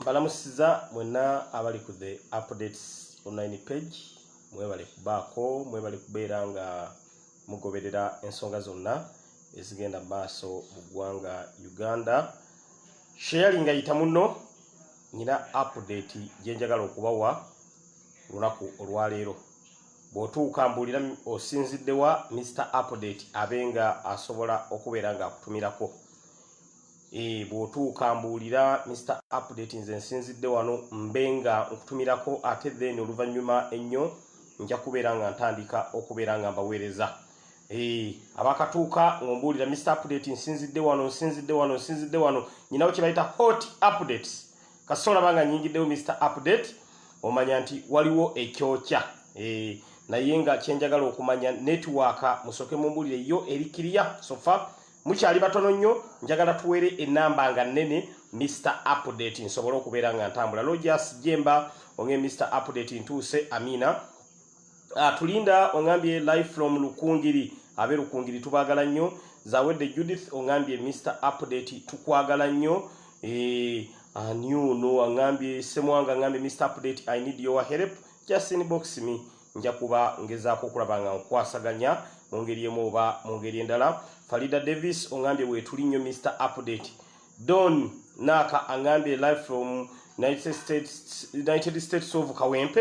mbalamusiza mwena abali ku the updates online page mwebale kubaako mwebale kubeera nga mugoberera ensonga zonna ezigenda maaso mu ggwanga uganda sheyali nga yita muno nyina update gyenjagala okubawa lunaku olwaleero bwotuuka mbuulira osinziddewa mr update abe nga asobola okubeera nga akutumirako Eh, bw'otuuka mbuulira Mister Update nze nsinzidde wano mbe nga nkutumirako ate then oluvannyuma ennyo nja kubeera nga ntandika okubeera nga mbaweereza eh, abakatuuka ng'ombuulira Mister Update nsinzidde wano nsinzidde wano nsinzidde wano nyinawo kye bayita hot updates kasita olaba nga nyingiddewo Mister Update omanya nti waliwo ekyokya eh, naye nga kye njagala okumanya netiwaaka musooke mumbuulire yo eri kiriya sofa mukyali batono nnyo njagala tuwere enamba nga nene mr update nsobole okubeera nga ntambula lojas jemba onge mr update ntuuse amina uh, tulinda ongambye live from lukungiri abe lukungiri tubagala nnyo zawedde judith ongambye mr update tukwagala nnyo eh, aniuno angambye semwanga angambye mr update i need your help just inbox me Nja kuba ngezaako okulaba nga nkwasaganya mu ngeri emu oba mu ngeri endala. Farida Davis ongambye weetuli nnyo Mister Update. Don Naaka angambye live from United States, United States of Kawempe.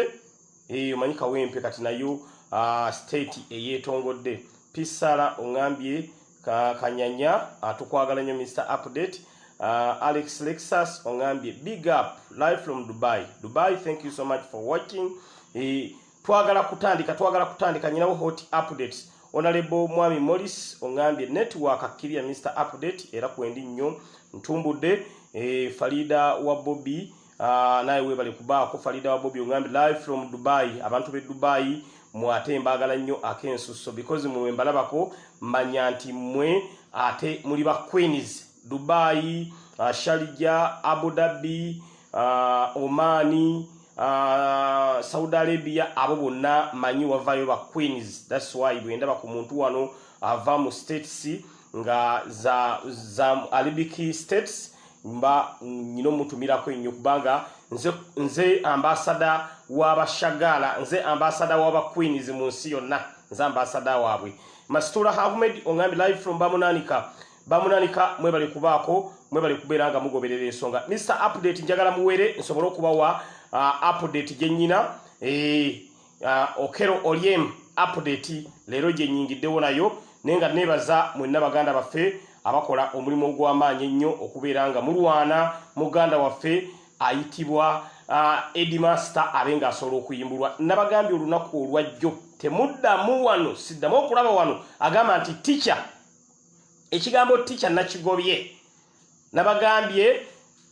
Eyo eh, manyi Kawempe kati nayo uh, state eyeetongodde. Pisala ongambye Ka kanyanya atukwagala ah, nyo Mr Update. Uh, Alex Lexus ongambye big up live from Dubai. Dubai thank you so much for watching. Eh, twagala kutandika twagala kutandika nyinawo hot updates. Onalebo Mwami Morris ongambye network akkiria Mr Update era kwendi nyo ntumbudde eh, Farida wa Bobby Ah, naye webale kubaako Farida wa Bobi ongambi live from Dubai abantu be Dubai mwate mbagala nnyo akensusso because mwe mbalabako manya nti mwe ate muli ba Queens Dubai uh, Sharjah Abu Dhabi uh, Omani uh, Saudi Arabia abo bonna manyi wavayo ba Queens that's why bwendaba ku muntu wano ava mu states nga za, za Arabic states mba nyina omutumirako ennyo kubanga nze, nze ambasada w'abashagaala nze ambasada w'abaqueens mu nsi yonna nze ambasada waabwe masituula havumed ongambye live from bamunanika bamunanika mwebale kubaako mwebale kubeera nga mugoberera ensonga mr update njagala muwere nsobole okubawa uh, update gye nnyina eh, Uh, Okero Oryem update leero gye nyingiddewo nayo naye nga neebaza mwenna baganda baffe abakola omulimu ogw'amaanyi ennyo okubeera nga mulwana muganda waffe ayitibwa uh, Eddie Master abe ng'asobola okuyimbulwa nabagambye olunaku olwajjo temuddamu wano siddamu okulaba wano agamba nti tica ekigambo tica nakigobye Nabagambye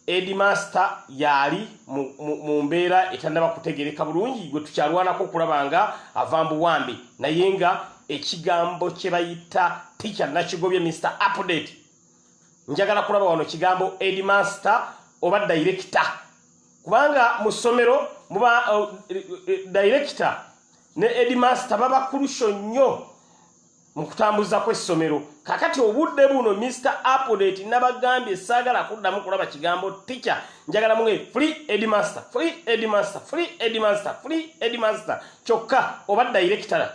Edi Master yaali mu mbeera etannaba kutegereka bulungi gwe tukyalwanako okulaba nga ava mbuwambi naye nga ekigambo kye bayita ticha nakigobye Mr Update njagala kulaba wano kigambo Edi Master oba dayirekita kubanga mu ssomero muba uh, eh, eh, dayirekita ne Edi Master baba kulusho nnyo mu kutambuza kw'essomero kakati obudde buno mr apodate nabagambye saagala kuddamu kulaba kigambo ticha njagala mwe free edmaster free edmaster free edmaster free edmaster kyokka oba dayirekitala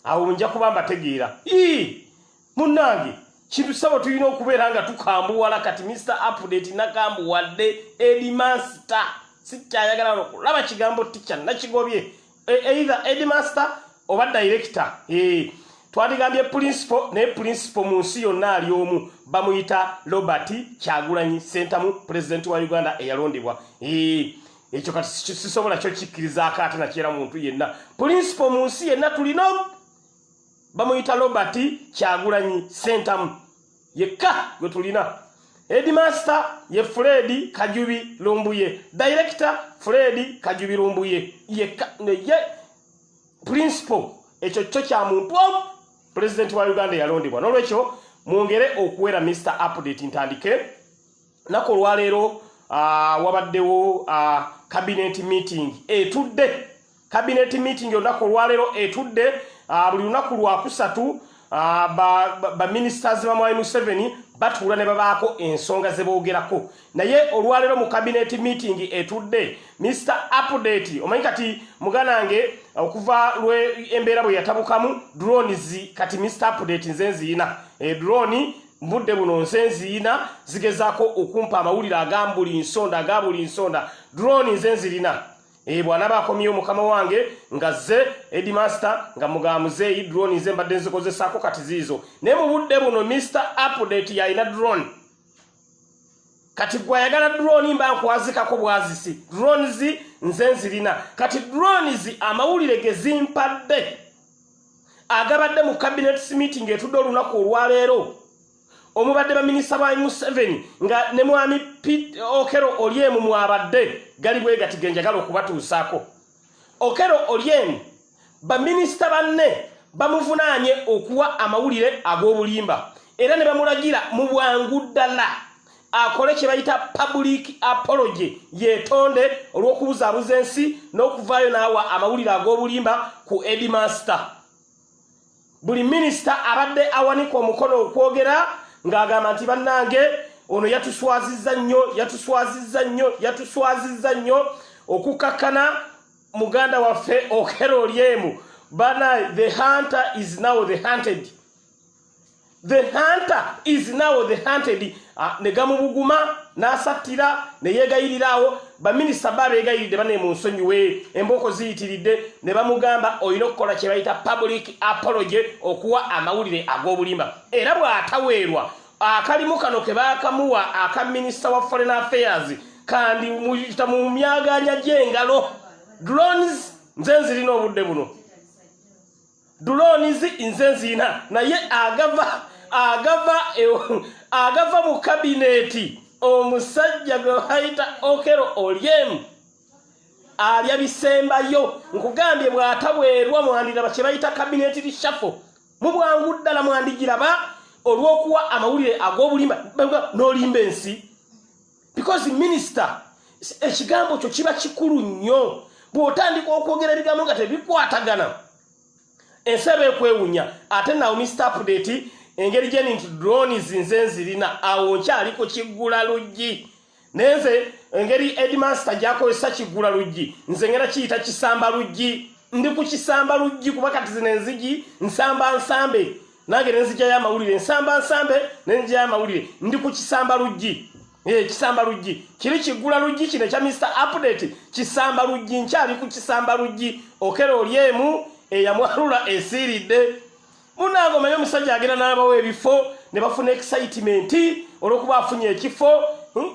awo nja kuba mbategeera ii munnange kintu sabo tulina okubeera nga tukambuwala kati mr apodate nakambuwadde edmaster sikyayagala okulaba kigambo ticha nakigobye e, either headmaster oba director eh twadigambye principal ne principal mu nsi yonna ali omu bamuyita Robert Kyagulanyi Sentamu president wa Uganda eyalondebwa eh ekyo kati sisobola kyo kikiriza akate na kiera muntu yenna principal mu nsi yenna tulino bamuyita Robert Kyagulanyi Sentamu yekka gwe tulina headmaster ye fred kajubi lumbuye director fred kajubi lumbuye yekka neye principal ekyo kyo kya muntu omu pulezidenti wa uganda yalondebwa n'olwekyo mwongere okuwera mr update ntandike nako olwaleero uh, wabaddewo uh, cabinet meeting etudde cabinet meeting olunaku olwaleero etudde uh, buli lunaku lwakusatu uh, baministers ba, ba bamwai museveni batuula ne babaako ensonga ze boogerako naye olwaleero mu cabinet meeting etudde mr update omanyi kati muganange okuva lwe embeera bwe yatabukamu drones kati mr update nze nziyina e eh, drone mbudde buno nze nziyina zigezaako okumpa amawulire agambuli nsonda agabuli nsonda drone nze nzirina e eh, bwanaba akomyewo mukama wange nga ze edimaster nga mugamuzeeyi drone nze mbadde nzikozesaako kati ziizo naye mu budde buno mr update yalina drone kati gwe ayagala drone mba nkwazikako bwazisi drones nze nzirina kati drones amawulire gezimpadde agabadde mu cabinets meeting etudde olunaku olwaleero omubadde baminisita ba museveni nga ne mwami pit okero olyemu mwabadde gali bwegati genjagala okubatuusaako okero olyemu baminisita banne bamuvunaanye okuwa amawulire ag'obulimba era ne bamulagira mu bwangu ddala akole kye bayita public apology yetonde olw'okubuzaabuza ensi n'okuvaayo n'awa amawulire ag'obulimba ku edi master buli minisita abadde awanika omukono okwogera ng'agamba nti bannange ono yatuswaziza nnyo yatuswaziza nnyo yatuswaziza nnyo okukakkana muganda waffe okerolyemu bana the hunter is now the hunted the hunter is now the hunted ah, ne gamubuguma n'asattira ne yeegayirira awo baminisita ba beegayiridde bane mu nsonyiwe embooko ziyitiridde ne bamugamba olina okukola kye bayita public apology okuwa amawulire ag'obulimba era bw'ataweerwa akalimu kano ke baakamuwa aka minisita wa foreign affairs kandi muyita mu myaganya gy'engalo drones nze nzirina obudde buno Drones nze nzina naye agava agava agava mu cabinet omusajja gwe bayita Okero Oryem alya bisembayo nkugambye bw'atabwerwa mwandiraba kye bayita cabinet reshuffle mu bwangu ddala mwandigiraba olw'okuwa amawulire ag'obulimba n'olimba ensi because minister ekigambo kyo kiba kikulu nnyo bw'otandika okwogera ebigambo nga tebikwatagana ensi eba ekwewunya ate nawo mista apudeti engeri gyeni nti dronis nze nzirina awo nkyali ku kiggula luggi naye nze engeri edmaster gyakozesa kiggula luggi nze ngera kiyita kisamba luggi ndi ku kisamba luggi kuba kati zino enzigi nsamba nsambe nange nenzijayo amawulire nsamba nsambe nenzijayo amawulire ndi ku kisamba luggi ee eh, kisamba luggi kiri kiggula luggi kino ekya mister update kisamba luggi nkyali ku kisamba luggi okera oli emu eyamwalula esiiridde munaanga omanye omusajja agenda n'abawo ebifo ne bafuna excitement olw'okuba afunye ekifo hmm?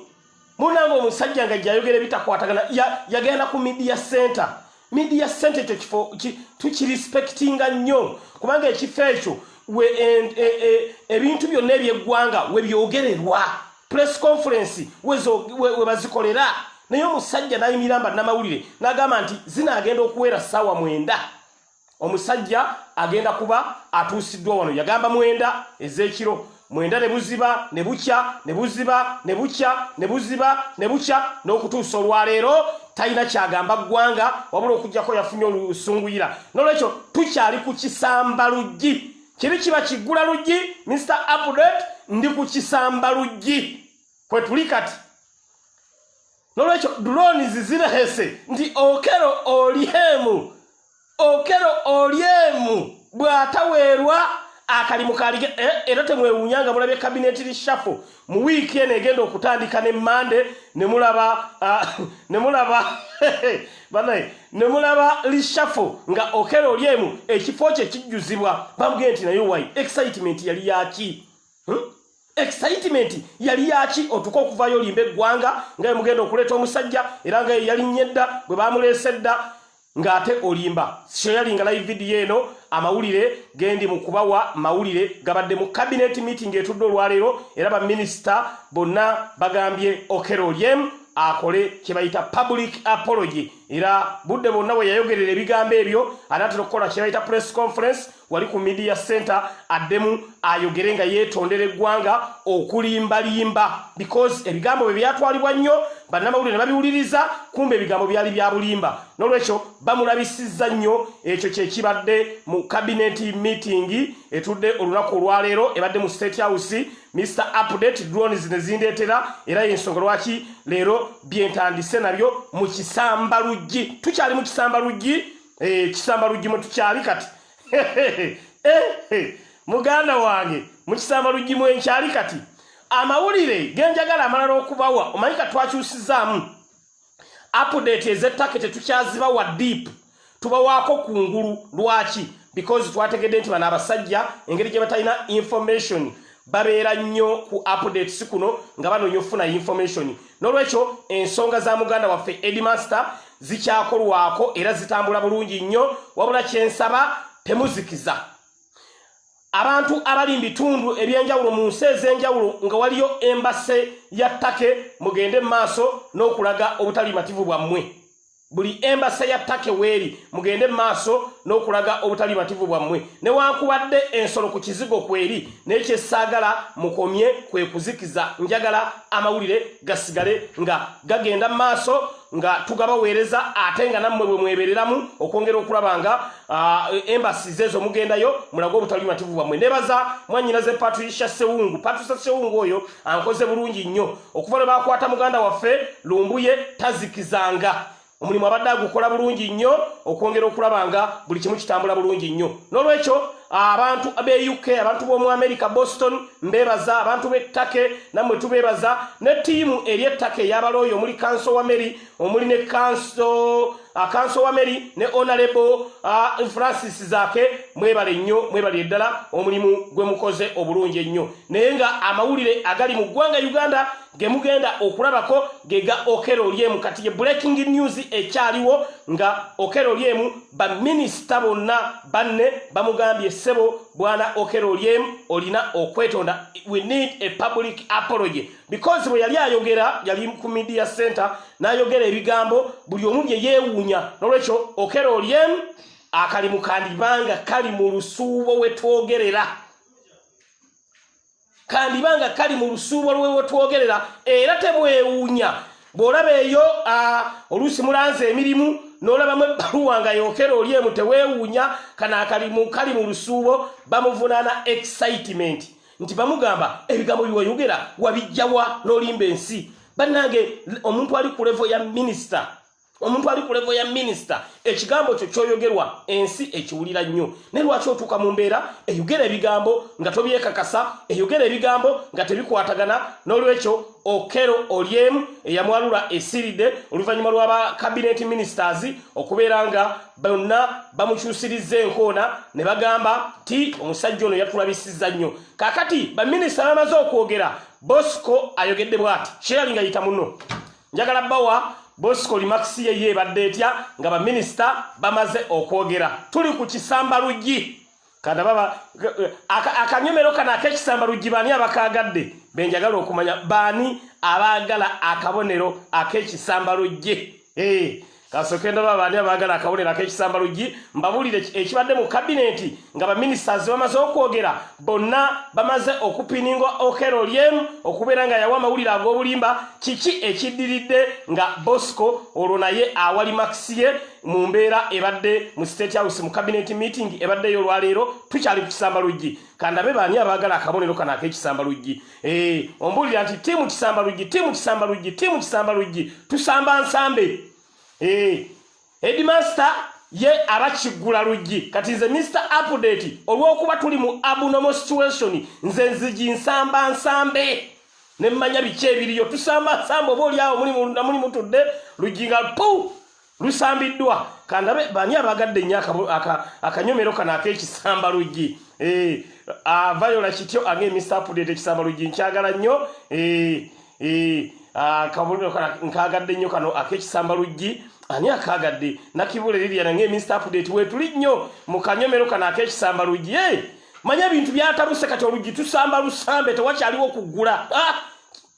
munange omusajja nga jayogera ebitakwatagana yagenda ku media center media center ekyo kifo tukirespectinga nnyo kubanga ekifo ekyo e, e, e, ebintu byonna ebyeggwanga webyogererwa press conference webazikolera naye omusajja nayimiramba namawulire nagamba nti zinaagenda okuwera saawa mwenda Omusajja agenda kuba atuusiddwa wano yagamba mwenda ez'ekiro mwenda ne buziba ne bukya ne buziba ne bukya ne buziba ne bukya n'okutuusa olwaleero talina kyagamba ggwanga wabula okugyako yafunye olusunguyira n'olwekyo tukyali ku kisamba luggi kiri kiba kiggula luggi mr update ndi ku kisamba luggi kwe tuli kati nolwekyo drones zirehese nti okero olyemu okero olyemu bwataweerwa akalimu kalige eh, era temwewunya nga mulabye kabineti lishafo mu wiiki eno egenda okutandika ne mande nemulaba ah, nemulaba banaye nemulaba lishafo nga okero olyemu ekifo kye kijjuzibwa bamugee nti naye wayi excitement yali yaki hmm? excitement yali yaki otuka okuvayo olimba eggwanga nga yemugenda okuleeta omusajja era nga yeyalinnya edda bwe bamuleesa edda ng'ate olimba shoyali nga live vidiyo eno amawulire gendi mu kubawa mawulire gabadde mu cabinet meeting etudde olwaleero era baminisita bonna bagambye okero olyemu akole kyebayita public apology era budde bonna bwe yayogerera ebigambo ebyo anaatera okukola kyebayita press conference wali ku media center addemu ayogere nga yeetondera eggwanga okulimbalimba because ebigambo bwe byatwalibwa nnyo bannamawulire ne babiwuliriza kumba ebigambo byali bya bulimba n'olwekyo bamulabisizza nnyo ekyo kye kibadde mu kabineti miitingi etudde olunaku olwaleero ebadde mu state house mr update drones ne zindeetera era y'ensonga lwaki leero byentandise nabyo mu kisamba luggi tukyali mu kisamba luggi ekisamba eh, luggi mu tukyali kati eh, muganda wange mu kisamba luggi mu enkyali kati amawulire genjagala amalala okubawa omanyi ka twakyusizaamu apudeti ezettake tetukyazibawa deep tubawaako ku ngulu lwaki because twategedde nti bano abasajja engeri gye batalina information babeera nnyo ku updates kuno nga banoonya okufuna information n'olwekyo ensonga za muganda waffe edmaster zikyakolwako era zitambula bulungi nnyo wabula kyensaba temuzikiza abantu abali mu bitundu eby'enjawulo mu nsi ez'enjawulo nga waliyo embase ya ttake mugende mu maaso n'okulaga obutali mativu bwammwe buli embasa ya take weeri mugende maaso n'okulaga obutali mativu bwammwe newankubadde ensolo ku kizigo kweri naye kyesaagala mukomye kwe kuzikiza njagala amawulire gasigale nga gagenda mu maaso nga tugabaweereza ate nga nammwe bwe mwebereramu okwongera okulaba nga embasi zeezo mugendayo mulage obutali mativu bwammwe nebaza mwanyinaze patricia sewungu patricia sewungu oyo ankoze bulungi nnyo okuva lwe baakwata muganda waffe lumbuye tazikizanga omulimu abadde agukola bulungi nnyo okwongera okulaba nga buli kimu kitambula bulungi nnyo n'olwekyo abantu be uk abantu b'omu america boston mbeebaza abantu b'ettake nammwe tubeebaza ne ttiimu eri ettaka eyabalooyo omuli kanso wa mary omuli ne kanso akanso wa meri ne onalebo francis zake mwebale nnyo mwebali eddala omulimu gwe mukoze obulungi ennyo naye nga amawulire agali mu ggwanga uganda gemugenda okulabako gega okera olyemu kati ye breaking news ekyaliwo nga okera olyemu baminisita bonna banne bamugambye ssebo bwana okera olyemu olina okwetonda we need a public apology because bwe yali ayogera yali ku media center n'ayogera ebigambo buli omu bye yeewuunya n'olwekyo okera olyem akalimu kandibanga kali mu lusuubo we twogerera kandibanga kali mu lusuubo lwe we twogerera era temwewuunya bw'olaba eyo oluusi mulanze emirimu n'olabamu ebbaluwa nga yokera oli emu teweewuunya kana akalimu kali mu lusuubo bamuvunaana excitement nti bamugamba ebigambo biwayogera wabijjawa nolimba ensi bannange omuntu ali ku levo ya minisita omuntu ali ku levo ya minisita ekigambo kyo kyoyogerwa ensi ekiwulira nnyo naye lwaki otuuka mu mbeera eyogera ebigambo nga tobyekakasa eyogera ebigambo nga tebikwatagana n'olwekyo okero olyemu eyamwalula esiridde oluvannyuma lw'aba kabineeti minisitaazi okubeera nga bonna bamukyusirizza enkoona ne bagamba nti omusajja ono yatulabisiza nnyo kakati baminisita bamaze okwogera bosco ayogedde bwati sherali nga yita muno njagala bawa bosco limakisi yeye ebadde etya nga baminisita bamaze okwogera tuli ku kisamba luggi kanda baba akanyomero kano akekisamba luggi baani abakaagadde benjagala okumanya baani abaagala akabonero akekisamba luggi eh, kasooke ndaba baani abaagala akabonero akekisamba luggi mbabuulire ekibadde mu kabineeti nga baminisiters bamaze okwogera bonna bamaze okupininga okero lyemu okubeera nga yawa amawulire ag'obulimba kiki ekiddiridde nga bosco olwo naye awali makisiye mu mbeera ebadde mu state house mu cabinet meeting ebaddeyo olwaleero tukyali ku kisamba luggi kandabe baani abaagala akabonero kano ak'ekisamba luggi eh, ombuulira nti tiimu kisamba luggi tiimu kisamba luggi tiimu kisamba luggi tusamba nsambe eh, edmaster ye abakiggula luggi kati nze mr update olw'okuba tuli mu abnormal situation nze nzigi nsamba nsambe ne mmanya biki ebiriyo tusamba nsambe oba oli awo muli mutudde luggi nga puu lusambiddwa kandabe bani abagadde nnyo akanyomero kano ak'ekisamba luggi eh, avayola kityo ange emisapudete ekisamba luggi nkyagala nnyo eh, eh, akabuliro kano nkagadde nnyo kano ak'ekisamba luggi ani akagadde nakibula eriria nange emisapudete wetuli nnyo mu kanyomero kano ak'ekisamba luggi manya ebintu byatabuse kati oluggi tusamba lusambe tewakyaliwo kuggula ah!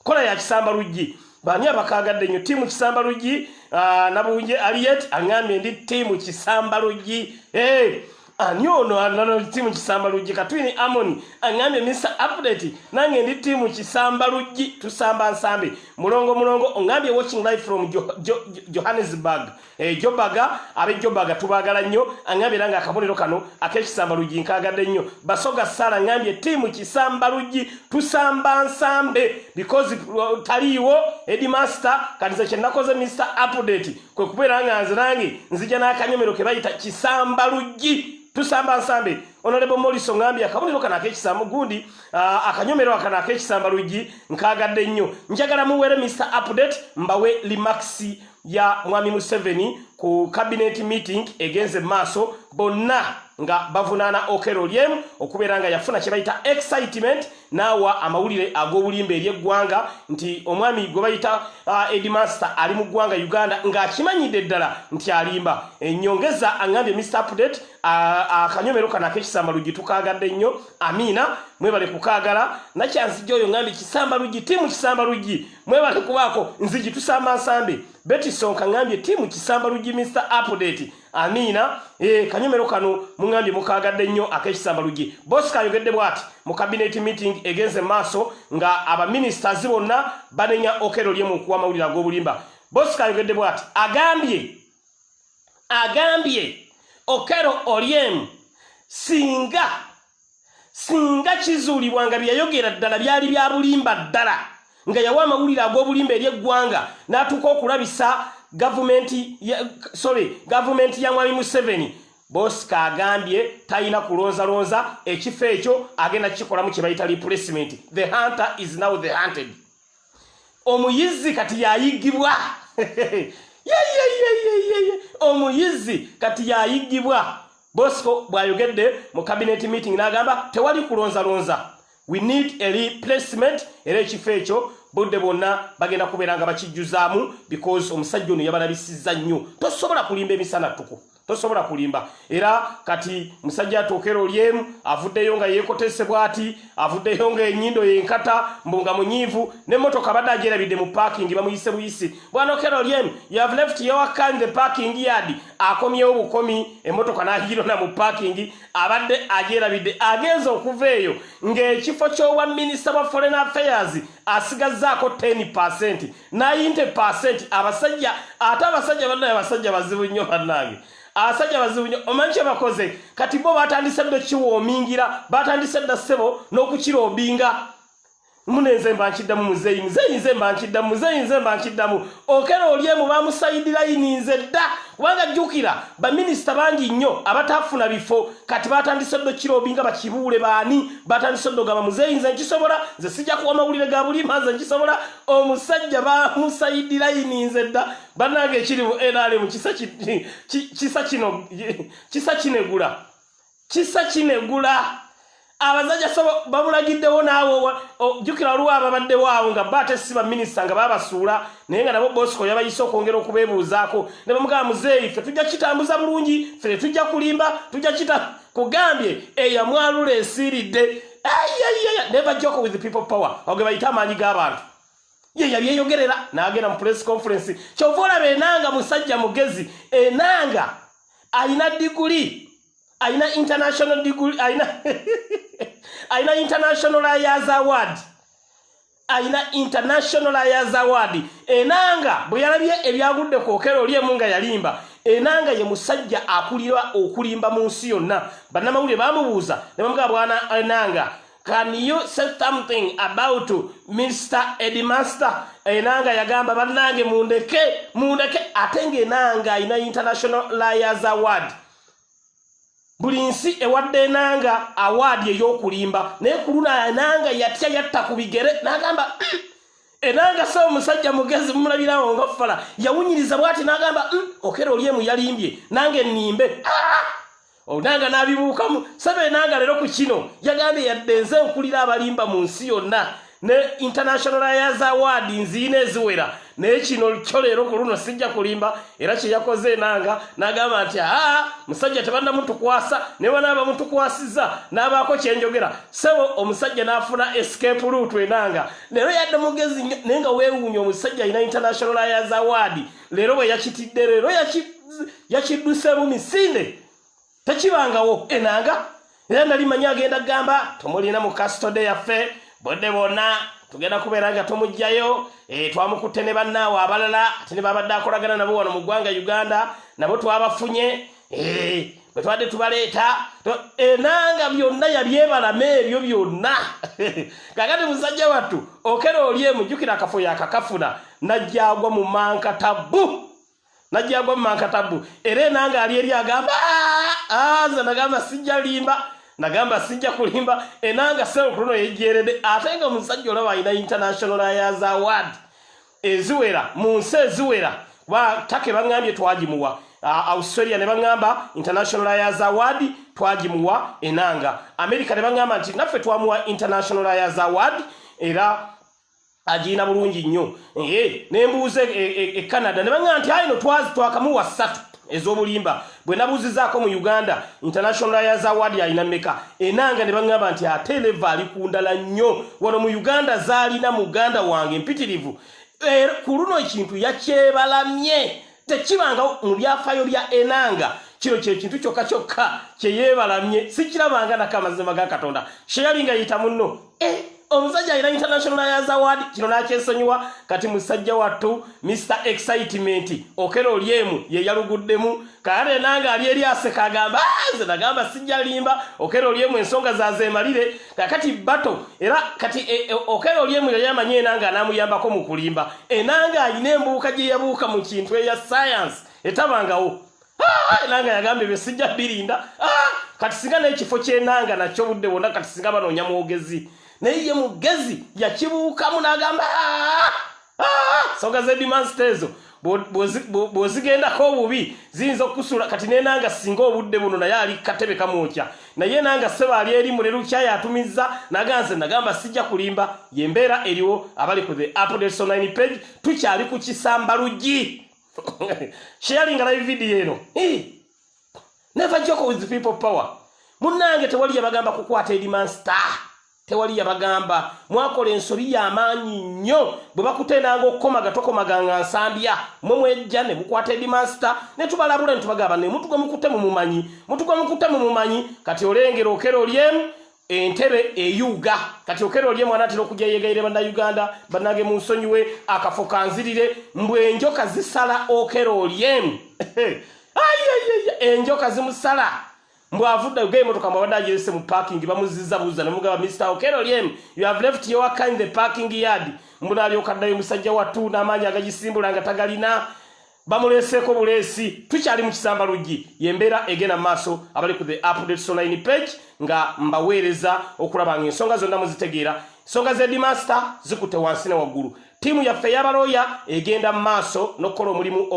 kola ya kisamba luggi baani abakaagadde nnyo tiimu kisamba luggi ah, nabunje aliyet aŋambye ndi tiimu kisamba luggi eh, ani ono anano tiimu kisamba luggi katwini amoni aŋambye mr update nange ndi tiimu kisamba luggi tusamba nsambi mulongo mulongo oŋambye watching life from johannesburg Eh, jobaga abe jobaga tubagala nnyo angambye era ngaakabonero kano ak'ekisamba luggi nkaagadde nnyo basoga sala ngambye tiimu kisamba luggi tusamba nsambe because uh, taliiwo edimaster katiza kyenakoze mr update kwe kubeera nga nze nange nzija n'akanyomero ke bayita kisamba luggi tusamba nsambe onalebo moliso ngambye akabonero kano ak'ekisamba gundi uh, akanyomero akano ak'ekisamba luggi nkaagadde nnyo njagala muwere mr update mbawe limaxi ya mwami museveni ku cabinet meeting egenze maaso bonna nga bavunaana okero lyemu okubeera nga yafuna kyebayita excitement naawa amawulire ag'obulimba eri eggwanga nti omwami gwe bayita uh, edmaster ali mu ggwanga uganda ng'akimanyidde ddala nti alimba enyongeza angambye mr update uh, akanyomero kano akekisamba luggi tukaagadde nnyo amiina mwebale kukaagala nakyanzijja oyo ngambye kisamba luggi timu kisamba luggi mwebale kubaako nzigi tusamba nsambe beti sonka ŋambye tiimu kisamba luggi mr update amiina e, kanyomero kano muŋambye mukaagadde nnyo ak'ekisamba luggi bosi kayogedde bwati mu kabineti meeting egenze maaso nga abaministers bonna banenya okero lyemu okuwa amawulire ag'obulimba bosi kayogedde bwati agambye agambye okero olyemu singa singa kizuulibwa nga byeyayogera ddala byali bya bulimba ddala nga yawa amawulire ag'obulimba eri eggwanga n'atuuka okulabisa gavumenti sorry gavumenti ya mwami museveni bosika agambye talina kulonzalonza ekifo ekyo agenda kukikolamu kye bayita replacement the hunter is now the hunted omuyizzi kati yayigibwa omuyizzi kati yayigibwa bosco bwayogedde mu cabinet meeting n'agamba tewali kulonzalonza we need a replacement era ekifo ekyo budde bwonna bagenda kubeera nga bakijjuzaamu because omusajja ono yabalabisizza nnyo tosobola kulimba emisana ttuku tosobola kulimba era kati musajja atuukera olyemu avuddeyo nga yeekotese bwati avuddeyo nga enyindo yenkata mbu nga munyiivu nemmotoka badde ajerabidde mu paakingi bamuyise buyisi bwanokera olyemu yav left yowakkan the parking yard akomyewo bukomi emmotoka nahirona mu paakingi abadde ajerabidde agenza okuva eyo ng'ekifo ky'obwa minisita bwa foreign affairs asigazzaako 10 percent nayinte percent abasajja ate abasajja bannaye abasajja bazibu nnyo bannange abasajja bazibu nnyo omanyi kyebakoze kati bo batandise dda kiwoomingira batandise dda ssebo n'okukira obinga munenze mba nkiddamu muzeeyi muzeeyi nze mba nkiddamu muzeeyi nze mba nkiddamu okera oli emu bamusayidiraini nze dda kubanga jjukira baminisita bangi nnyo abatafuna bifo kati batandise dda okukira obinga bakibuule baani batandise dda ogamba muzeeyi nze nkisobola nze sijja kuwa mawulire ga bulimba nze nkisobola Omusajja bamusayidilayininze dda banange ekiri mu nrm kisa kino kisa kinegula kisa kinegula abasajja so bamulagiddewo naawe jjukira waliwo ababaddewo awo nga ba ate si baminisita nga babasuula naye nga nabo bosco yabayise okwongera okubeebuuzaako ne bamugamba muzeeyi fe tujja kitambuza bulungi fe tetujja kulimba tujja kita kugambye eyamwalula esiiridde never joke with people power oge bayita amaanyi g'abantu ye yali eyogerera n'agenda mu press conference kyova olaba enanga musajja mugezi enanga alina diguli alina international diguli alina alina international ayers award alina international lawyers award enanga bwe yalabye ebyagudde ku okero oli emu nga yalimba enanga ye musajja akulira okulimba mu nsi yonna bannamawulire bamubuuza ne bamugamba bwana enanga can you say something about mr edmaster enanga yagamba bannange mundeke mundeke ate nga enanga alina international lawyers award buli nsi ewadde enanga awaadi ey'okulimba naye ku luno enanga yatya yatta ku bigere n'agamba mm, enanga saba omusajja mugezi mumulabirawo nga fala yawunyiriza bwati n'agamba mm, okera oli emu yalimbye nange nimbe ah! onanga n'abibuukamu saba enanga leero ku kino yagambye yadde nze nkulira abalimba mu nsi yonna ne international liars award nziina eziwera naye kino kyo leero ku luno sijja kulimba era kye yakoze enanga n'agamba nti aa musajja tebannamutukwasa ne bana abamutukwasiza n'abaako kye njogera sebo omusajja n'afuna escape luutu enanga leero yadde mugezi nnyo naye nga weewuunya omusajja alina international liars award leero bwe yakitidde leero yakidduse bumisinde tekibangawo enanga era nali manyi agenda kugamba tumulina mu kastode yaffe bodde bonna tugenda kubeera nga tumugjayo e, twamukutte ne bannaawe abalala ate ne babadde akolagana nabo wano mu ggwanga uganda nabo twabafunye eh, bwe twadde tubaleeta enanga byonna yabyebalama ebyo byonna kakati musajja wattu okera oli emujjukira akafo yakakafuna najjagwa mu manka tabbu najja agwa mumankatabu era enanga ali eri agamba ah, ah, nze nagamba sijja limba nagamba sijja kulimba enanga selkuluno yejjerede ate nga omusajja olaba alina international ayas award eziwera mu nsi eziwera kuba take baŋambye twagimuwa uh, australia ne baŋamba international ayas award twagimuwa enanga america ne baŋamba nti naffe twamuwa international ayas award era agirina bulungi nnyo ne mbuuza e, e, e canada ne baŋa nti ayino twazi twakamuwa ssatu ez'obulimba bwe nabuuzizaako mu uganda international layers award alina meka enanga ne baŋŋamba nti ate leva ali ku ndala nnyo wano mu uganda zaalina muganda wange mpitirivu er, ku luno ekintu yakyebalamye tekibangawo mu byafaayo bya enanga kino kyekintu kyokka kyokka kyeyeebalamye sikirabanga nako amazima ga katonda sheyali nga yita munno eh, omusajja alina international ayaz award kino nakyesonyiwa kati musajja wattu mr excitement okera oli emu yeyaluguddemu kaate enanga ali eri aseka agamba ah, nze nagamba sijja limba okera oli emu ensonga zazeemalire kakati bato era kati e, e, okero lyemu yali amanyi enanga anamuyambako mu kulimba enanga alina embuuka gye yabuuka mu kintu eya sayansi etabangawo ah, enanga yagambye bye sijja birinda ah, kati singa n'ekifo ky'enanga nakyo budde bwonna kati singa banoonya mwogezi naye ye mugezi yakibuukamu n'agamba ah, soga zedimansita ezo bwozigendako obubi ziyinza okusula kati nenanga singa obudde buno naye ali katebe kamwokya naye nanga seba ali eri mulelukya yatumiza naganze nagamba sijja kulimba yembeera eriwo abali ku the update9 page tukyali ku kisamba luggi sharinga live video eno never joke with people power munange tewali yabagamba kukwata edimansita tewali yabagamba mwakola ensobi yamaanyi nnyo bwe bakutendanga okukomaga tokomaganga nsambya mwe mwejja ne mukwata edimansita ne tubalabula ne tubagamba ne mutuga mukute mu mumanyi mutuga mukute mu mumanyi kati olengera okera olyemu entebe eyuga kati okera olyemu anatera okujja yegaire bannayuganda bannange mu nsonyiwe akafo kanzirire mbu enjoka zisala okera olyemu enjoka zimusala mbu avudde oge emotoka mbu abadde agirese mu parking bamuziza buza nemugaba mr okero lyem you have left your car in the parking yard mbu nalyoka ddayo musajja wattu n'amaanyi agagisimbula nga tagalina bamuleeseeko buleesi tukyali mu kisamba luggi yembeera egenda maaso abali ku the updates online page nga mbaweereza okulaba nga ensonga zonna muzitegeera ensonga z'edimaster zikutte wansi ne waggulu Ttiimu yaffe eyabalooya egenda mu maaso n'okukola omulimu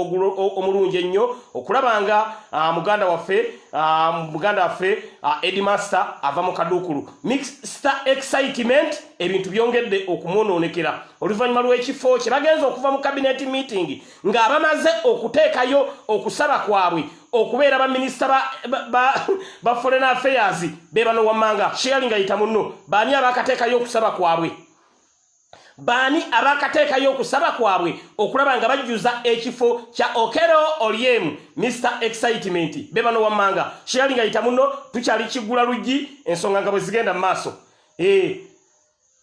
omulungi ennyo okulaba nga ah, muganda waffe ah, muganda waffe ah, edimaster ava mu kaduukulu mixta excitement ebintu byongedde okumwonoonekera oluvannyuma lw'ekifo kye bagenze okuva mu kabineti meeting ng'abamaze okuteekayo okusaba kwabwe okubeera baminisita ba foreign affairs be bano wammanga shearinga yita munno baani abaakateekayo okusaba kwabwe baani abakatekayo okusaba kwabwe okulaba nga bajjuza ekifo kya okero olyem mr excitement bebano wammanga sheyali nga yita muno tukyali kigula luggi ensonga nga bwe zigenda mu maaso e,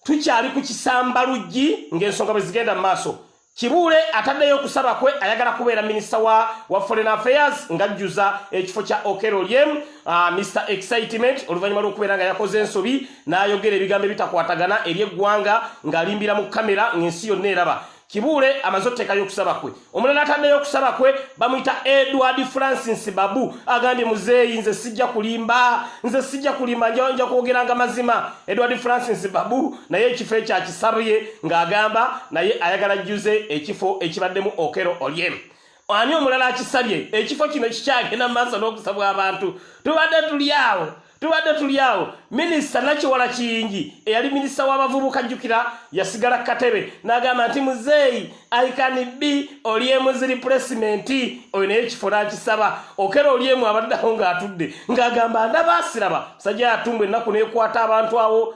tukyali ku kisamba luggi ng'ensonga bwe zigenda mu maaso Kibuule ataddeyo okusaba kwe ayagala kubeera minisita wa, wa foreign affairs ng'ajjuza ekifo kya Okello Oryem uh, ah, Mr Excitement oluvannyuma lw'okubeera nga yakoze ensobi n'ayogera ebigambo ebitakwatagana eri eggwanga ng'alimbira mu kamera ng'ensi yonna eraba Kibuule amaze oteekayo okusaba kwe omulala ataddeyo okusaba kwe bamuyita Edward Francis Babu agambye muzeeyi nze sijja kulimba nze sijja kulimba nja kwogeranga mazima Edward Francis Babu naye ekifo ekyo akisabye ng'agamba naye ayagala jjuze ekifo ekibaddemu okero olyem ani omulala akisabye ekifo kino kikyagenda mu maaso n'okusabwa abantu tubadde tuli awo tubadde tuli awo minisita nakiwala kiyingi eyali minisita w'abavubuka jjukira yasigala ku katebe n'agamba nti muzeeyi aikani bi olyemu ziri pulesimenti oyo naye ekifo n'akisaba okera olyemu abaddeawo ng'atudde ng'agamba ndabaasiraba musajja yatumbwa ennaku n'ekwata abantu awo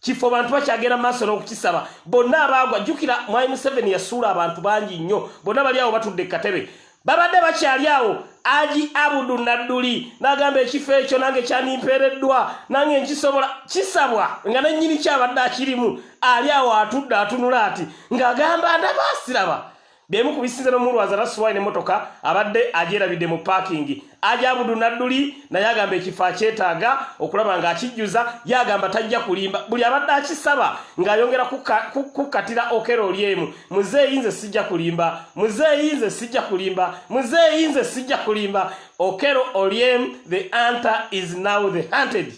kifo bantu bakyagenda maaso n'okukisaba bonna abaagwa jjukira mwai museveni yasuula abantu bangi nnyo bonna bali awo batudde katebe babadde bakyali awo aji abudu nadduli n'agamba ekifo ekyo nange kyandimpeereddwa nange nkisobola kisabwa nga nennyini kyabadde akirimu ali awo atudde atunula ati ng'agamba ndabaasiraba Bemu ku bisinze n'omulwaza Rasuwai n'emmotoka abadde agyerabidde mu paakingi. Ajabudu Nadduli naye agamba ekifo akyetaaga okulaba ng'akijjuza. Ye agamba tajja kulimba, buli abadde akisaba ng'ayongera kukkatira Okello Oryemu, Muzeeyi nze sijja kulimba, Muzeeyi nze sijja kulimba, Muzeeyi nze sijja kulimba. Okello Oryem, the hunter is now the hunted.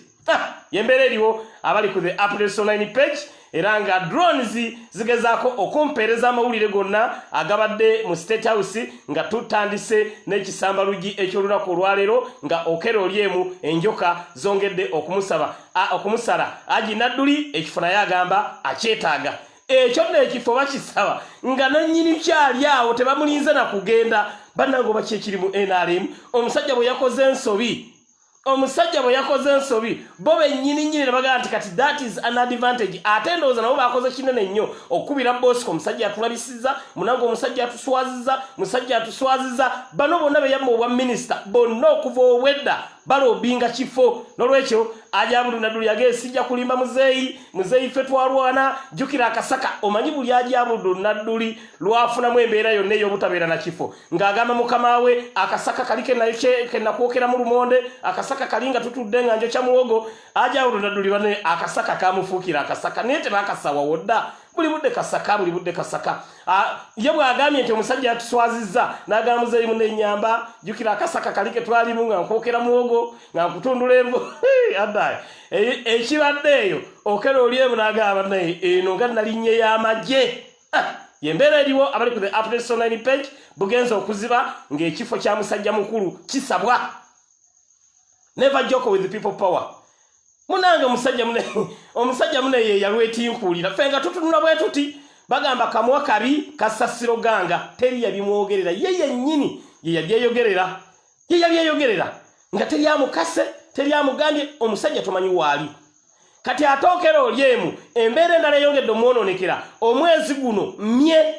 yembeera eriwo abali ku the updates online page era nga drones zigezaako okumpeereza amawulire gonna agabadde mu state house nga tutandise n'ekisambalugi eky'olunaku olwaleero nga okera oli emu enjoka zongedde okumusaba okumusala aji nadduli ekifo naye agamba akyetaaga ekyo nno ekifo bakisaba nga nannyini kyali awo tebamulinze na kugenda bannange oba kyekiri mu nrm omusajja bwe yakoze ensobi omusajja bwe yakoze ensobi bo bennyini nnyini ne bagamba nti kati that is an advantage ate ndowooza nabo baakoze kinene nnyo okukubira bosiko omusajja yatulabisiza munange omusajja atuswaziza musajja atuswaziza bano bonna beyamma obwa minisita bonna okuva obwedda balobinga kifo nolwekyo ajabudunadulu yage sijja kulimba muzeeyi muzeeyi ffe twalwana jjukira akasaka omanyi buli ajabudunaduli lwafunamu embeera yonna ey'obutabeera na kifo ng'agamba mukama we akasaka kali kenakwokera mu lumonde akasaka kali nga tutudde nga njokya muwogo ajawulonadulirwa ne akasaka kamufuukira akasaka naye tebakasawawo dda buli budde kasaka buli budde kasaka ye bw'agambye nti omusajja yatuswazizza n'agamba muzeeyi mu nenyamba jjukira akasaka kali ke twalimu nga nkwokera muwogo nga nkutundula envu addaye ekibadde eyo okera oli emu n'agamba naye eno nga nalinnye y'amagye ah, yembeera eriwo abali ku the updates online page bugenza okuziba ng'ekifo kya musajja mukulu kisabwa never joko with people power munange omusajja mune omusajja mune ye yalwetinkuulira ffe nga tutunula bwe tuti bagamba kamwa kabi kasasiro ganga teri yabimwogerera ye yennyini ye yabyeyogerera ye yabyeyogerera nga teri amukase teri amugambye omusajja tomanyi waali kati ate okera oli emu embeera endala eyongedde omwonoonekera omwezi guno mye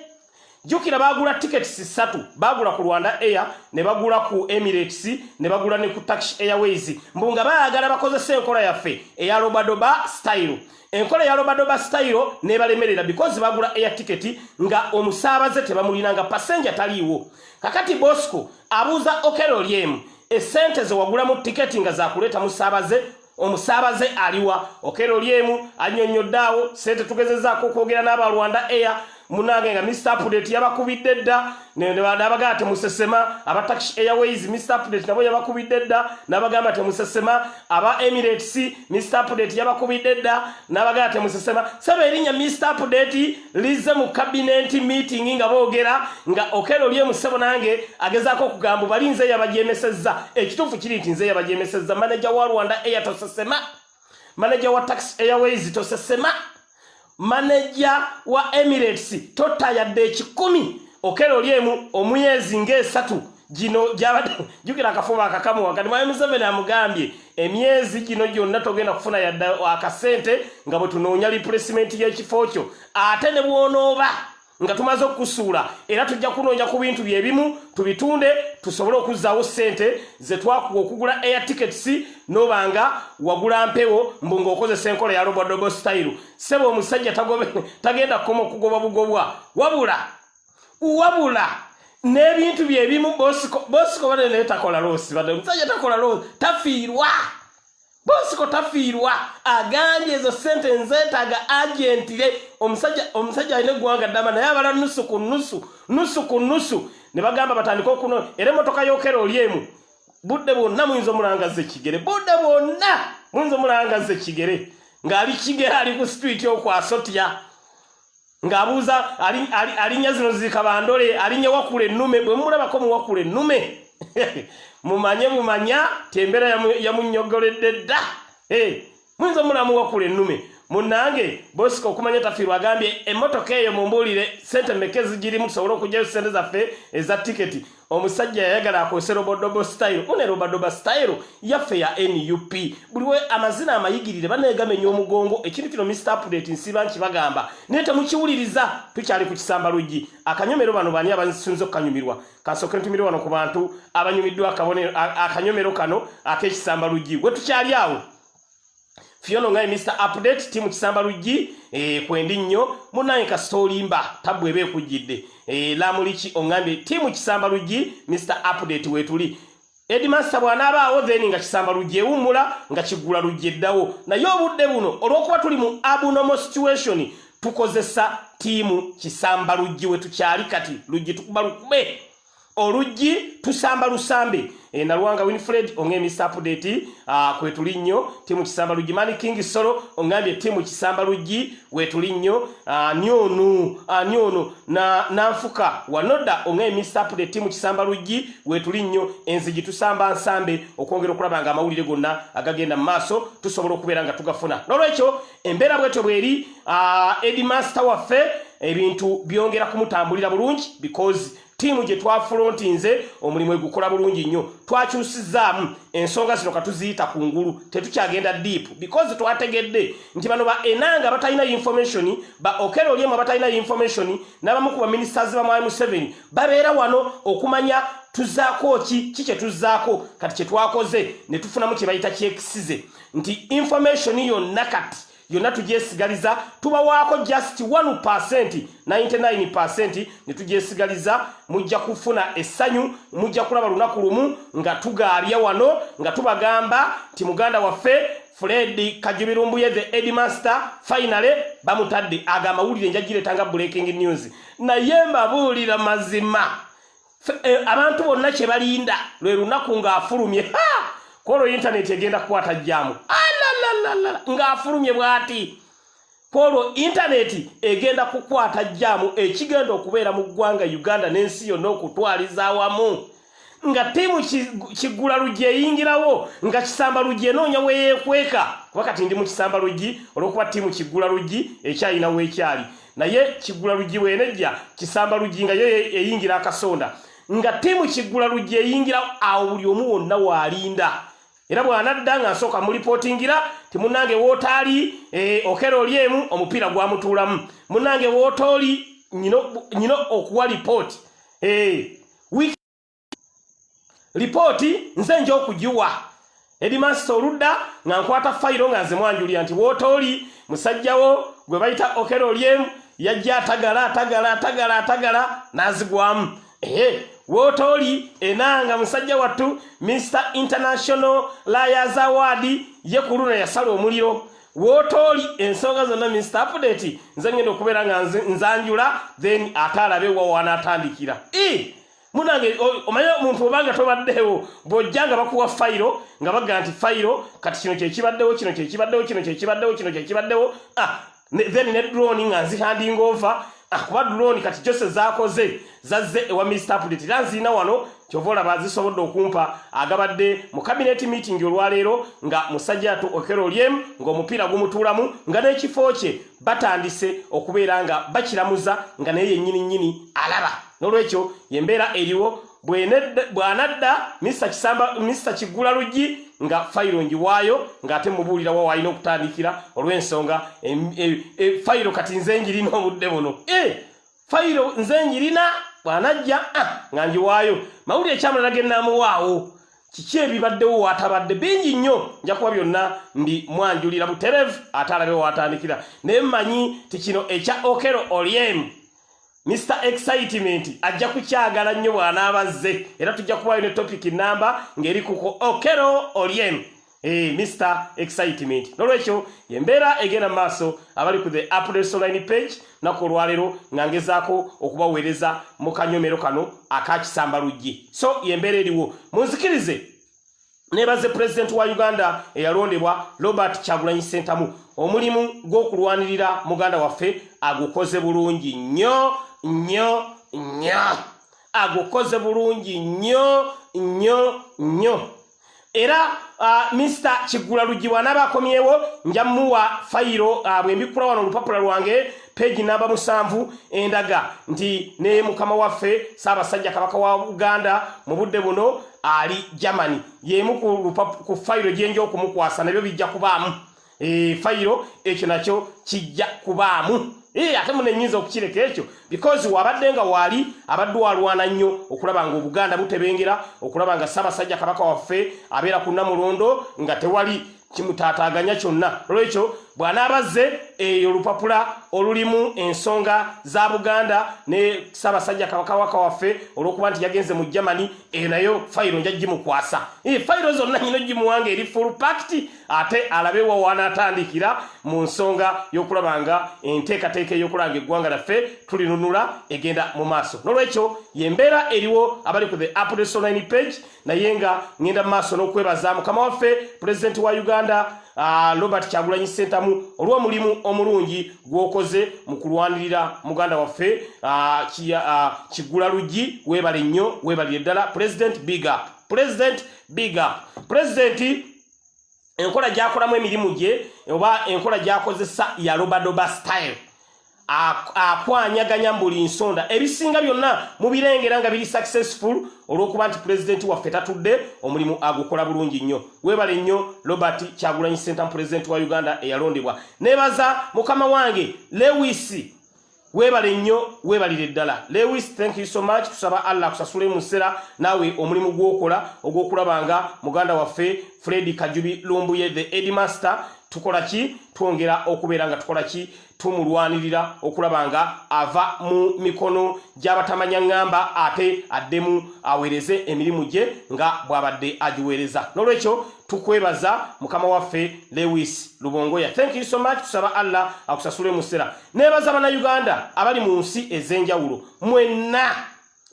jjukira baagula tickets ssatu baagula ku rwanda air ne bagula ku emirates ne bagula ne ku tax airways mbu nga baagala bakozesa enkola yaffe eya robadoba style enkola eya robadoba style nebalemerera because bagula air ticket nga omusaabaze tebamulina nga passenger taliiwo kakati bosco abuuza okero lyemu esente zewagulamu tiketi nga zakuleeta musaabaze omusaabaze aliwa okera oli emu annyonnyodde awo ssente tugezezaako okwogera n'aba rwanda air munange nga mr update yabakubidde dda nabagamba temusesema aba taxi airways mr update nabo yabakubidde dda nabagamba temusesema aba emirates mr update yabakubidde dda nabagamba temusesema saba erinnya mr update lizze mu kabinenti meeting nga boogera nga okero lye musebo nange agezaako okugambu bali nze yabajemesezza ekituufu kiri nti nze yabajemesezza manaja wa rwanda eya tosesema manaja wa tax airways tosesema manaja wa emirates totta yadde ekikumi okero lyemu omuyezi ngaesatu gino gyabadde jjukira akafuba akakamu wakati mwami museveni amugambye emyezi gino gyonna togenda kufuna yadde akasente nga bwe tunoonya lipulesimenti y'ekifo kyo ate ne bwonooba nga tumaze okukusuula era tujja kunoonya ku bintu bye bimu tubitunde tusobole okuzzaawo ssente ze twakuba okugula air tickets noba nga wagula mpewo mbu ng'okozesa enkola ya robodobo style seba omusajja tagenda kukoma okugobwa bugobwa wabula wabula n'ebintu bye bimu bosiko bosiko bane naye takola loosi bade omusajja takola loosi tafiirwa bosiko tafiirwa agambye ezo sente nzeetaaga agentire omusajja omusajja alina eggwanga ddama naye abala nusu ku nusu nusu ku nusu ne bagamba batandika okuno era emmotoka yokera oli emu budde bwonna muyinza omulangaza ekigere budde bwonna muyinza omulangaza ekigere ng'ali kigere ali ku situiti okwasotya ng'abuuza alinnya zino ziika bandole alinnya wakula ennume bwe mumulabako muwakula ennume mumanye mumanya tembera yamunyogoledde dda muyinza omulamu wakula ennume munange bosika okumanya tafiirwa agambye emmotoka eyo mumbuulire sente meka ezigirimu tusobole okugyayo sente zaffe eza tiketi omusajja yayagala akozese robodobo style une robodoba style yaffe ya nup buliwe amazina amayigirire banegamenya omugongo ekintu kino mr update nsiba nkibagamba naye temukiwuliriza tukyali ku kisamba luggi akanyomero bano bani abasinza okukanyumirwa kasooke ntumire wano ku bantu abanyumiddwa akanyomero kano ak'ekisamba luggi wetukyali awo Fiono ngai Mr. Update timu kisamba luji eh, kwendi nyo munaye ka story mba tabu ebe kujide eh, la mulichi ongambi timu kisamba luji Mr. Update wetuli Edimasta bwana aba awo then nga kisamba luje umula nga kigula luje dawo na yo budde buno olwokuba tuli mu abnormal situation tukozesa timu kisamba luje wetu chali kati luje tukubalukube oluggi tusamba lusambe e, nalwanga winfred ongemisa apudeti ah, kwetuli nnyo timu kisamba luggi mani king solo ongambye timu kisamba luggi wetuli nnyo ah, ani ono ani ono nanfuka wanoda ongemisa apudeti timu kisamba luggi wetuli nnyo enzigi tusamba nsambe okwongera okulaba nga amawulire gonna agagenda mu maaso tusobola okubeera nga tugafuna nolwekyo embeera bwetyo bweri ah, edmaster waffe ebintu byongera kumutambulira bulungi because tiimu gye twafulontinze omulimu egukola bulungi nnyo twakyusizaamu ensonga zino katuziyita ku ngulu tetukyagenda deep because twategedde nti bano ba enanga batalina information ba okero olyemu abatalina information n'abamu ku baministers ba mwami museveni babeera wano okumanya tuzaako ki ki kye tuzaako kati kye twakoze ne tufunamu kye bayita kyekisize nti information yonna kati yonna tugyesigaliza tubawaako just 1 percent 99 percent ne tugyesigaliza mujja kufuna essanyu mujja kulaba lunaku lumu nga tugaabya wano nga tubagamba nti muganda waffe fred kajubirumbuye the edmaster finally bamutadde ago amawulire njagiretanga breaking news naye mbabuulira mazima Eh, abantu bonna kye balinda lwe lunaku ng'afulumye kwolwo intaneti egenda kukwata jjaamu ng'afulumye bw'ati kwolwo intaneti egenda kukwata jjaamu ekigenda okubeera mu ggwanga uganda n'ensi yonna okutwaliza awamu nga ttiimu kiggula luggi eyingirawo nga kisamba luggi enoonya weyeekweka kuba kati ndi mu kisamba luggi olw'okuba ttiimu kiggula luggi ekyalina weekyali naye kigula luggi bwenejja kisamba luggi nga yo eyingira akasonda nga tiimu kigula luggi eyingira awo buli omu wonna waalinda era bw'anadda nga nsooka mulipootingira ti munnange wootaali eh, okera oli emu omupiira gwamutuulamu munnange wootooli nyina okuwa lipooti eh, lipooti nze nja okugiwa edimasita oludda nga nkwata fayiro nga nze mwanjulira nti wootooli musajjawo gwe bayita okero olyemu yajja atagala atagala atagala atagala n'azigwamu ehe wootooli enanga musajja wattu mr international layers award ye ku luno yasala omuliro wootooli ensonga zonna mr apudeti nze ngenda okubeera nga nzanjula then ate alabe wawaanaatandikira e munange omanyi omuntu obanga tobaddewo bw'ojja nga bakuwa fayiro nga bagga nti fayiro kati kino kyekibaddewo kino kyekibaddewo kino kyekibaddewo kino kyekibaddewo ah, then ne drone nga nzihandinga ova ah, kuba drone kati jose zakoze zazze ewa mr pulit era nziina wano kyova olaba zisobodde okumpa agabadde mu kabineti meeting olwaleero nga musajja tu okero lyem ng'omupiira gumutuulamu nga n'ekifo kye batandise okubeera nga bakiramuza nga naye yennyini nnyini alaba n'olwekyo yembeera eriwo bw'anadda misa kiggula luggi nga fayiro ngiwaayo ng'ate mubuulira wa walina okutandikira olw'ensonga e, e, fayiro kati nze ngirina obudde buno eh! fayiro nze njirina bwanajja ah, nga njiwaayo mawulire ekyamulala genaamuwaawo kiki ebibaddewo watabadde bingi nnyo nja kuba byonna ndi mwanjulira buterevu ate alabe watandikira naye mmanyi ti kino ekya okero olyemu Mr. Excitement ajja kukyagala nnyo bw'anaabazze era tujja kubayo ne topic namba ng'eri kuko Okero Oryem. Hey, eh, Mr. Excitement. Nolwekyo yembeera egenda maaso abali ku the Updates Online page nako olwaleero nga ngezaako okubaweereza mu kanyomero kano akakisamba luggi. So yembeera eriwo. Munzikirize nebaze president wa Uganda eyalondebwa Robert Kyagulanyi Ssentamu omulimu gw'okulwanirira muganda waffe agukoze bulungi nnyo nnyo nnyo agukoze bulungi nnyo nnyo nnyo era uh, Mr. Kigula Lujji bw'anaaba akomyewo nja muwa fayiro uh, bwe mbikkula wano olupapula lwange peegi namba musanvu endaga nti ne mukama waffe Ssaabasajja Kabaka wa Uganda mu budde buno ali Germany y'emu ku fayiro gye nja okumukwasa nabyo bijja kubaamu eh, fayiro ekyo nakyo kijja kubaamu eh, ate muno enyinza okukireka ekyo because wabadde nga waali abadde walwana nnyo okulaba nga obuganda butebengera okulaba nga ssaabasajja kabaka waffe abeera ku namulondo nga tewali kimutaataaganya kyonna olwekyo bw'anaabazze eyo olupapula olulimu ensonga za buganda ne ssaabasajja kabakawaka waffe olw'okuba nti yagenze mu germany eyo nayo fayiro nja gimukwasa fayiro zonna nyina ogimuwanga eri full pakiti ate alabe wa wanaatandikira mu nsonga y'okulaba nga enteekateeka ey'okulanga eggwanga laffe tulinunula egenda mu maaso n'olwekyo yembeera eriwo abali ku the apdesonline page naye nga ŋenda mu maaso n'okwebaza mukama waffe pulezidenti wa uganda Ah, robert kyagulanyi sentamu olwomulimu omulungi gwokoze mu kulwanirira muganda waffe ah, ah, kigula luggi webale nnyo webalire ddala president big up president big up presidenti enkola gyakolamu emirimu gye oba enkola gyakozesa ya lobadoba style akwanyaganya mu buli nsonda ebisinga byonna mubirengera nga biri successful olw'okuba nti pulezidenti waffe tatudde omulimu agukola bulungi nnyo webale nnyo robert kyagulanyi sentamu pulezidenti wa uganda eyalondebwa nebaza mukama wange lewisi Webale nnyo webalire ddala Lewis thank you so much tusaba Allah kusasule musera nawe omulimu gwokola ogwokulabanga muganda waffe Freddy Kajubi Lumbuye the headmaster tukola ki twongera okubeera nga tukola ki tumulwanirira okulaba nga ava mu mikono gy'abatamanya ŋŋamba ate addemu aweereze emirimu gye nga bw'abadde agiweereza n'olwekyo tukwebaza mukama waffe lewis lubongoya thank you so much tusaba allah akusasule musera Nebaza bannayuganda abali mu nsi ez'enjawulo mwenna